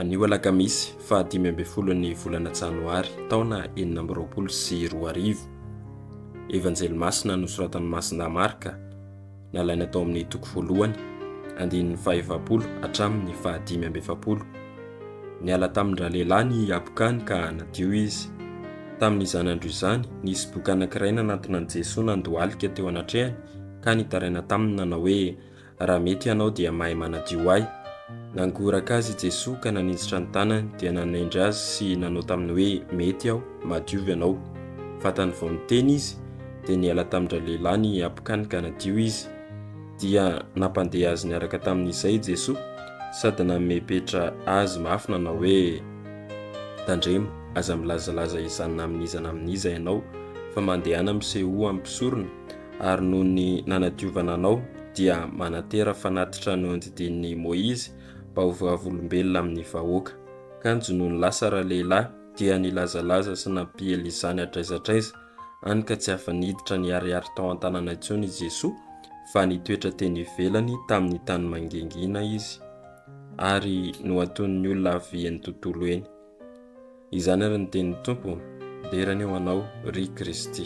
Anio alakamisy faha dimy ambin'ny folo ny volana janoary taona enina amby roapolo sy roa arivo. Evanjely masina nosoratan'ny masinda Marka, nalaina tao amin'ny toko voalohany, andininy faha efapolo hatramin'ny faha dimy amby efapolo. Niala tamin-dralehilahy ny habokany ka nadio izy. Tamin'izany andro izany, nisy boky anankiray nanantona an'i Jesoa nandohalika teo anatrehany ka nitaraina taminy nanao hoe, Raha mety ianao dia mahay manadio ahy. Nangoraka azy i Jesoa ka naninjitra ny tanany dia nanendry azy sy nanao taminy hoe, Mety aho, madio ianao. Fantany vao niteny izy, dia niala tamin-dralehilahy ny habokany ka nadio izy. dia nampandeha azy niaraka tamin'izay i Jesoa sady nanome petra azy mafy nanao hoe, Tandremo, aza milazalaza izany na amin'iza na amin'iza ianao, fa mandehana misehoa amin'ny mpisorona, ary noho ny nanadiovana anao dia manantera fanatitra nohodidinin'i Moizy mba ho vavolombelona amin'ny vahoaka. Kanjo nony Lasara lehilahy dia nilazalaza sy nampiely izany hatraiza hatraiza. hany ka tsy afa-niditra niharihary tao an-tanàna intsony i Jesoa, fa nitoetra teny ivelany tamin'ny tany mangingina izy, ary nohatonin'ny olona avy eny tontolo eny. Izany ary ny tenin'ny Tompo, Dera anie ho anao, ry Kristy.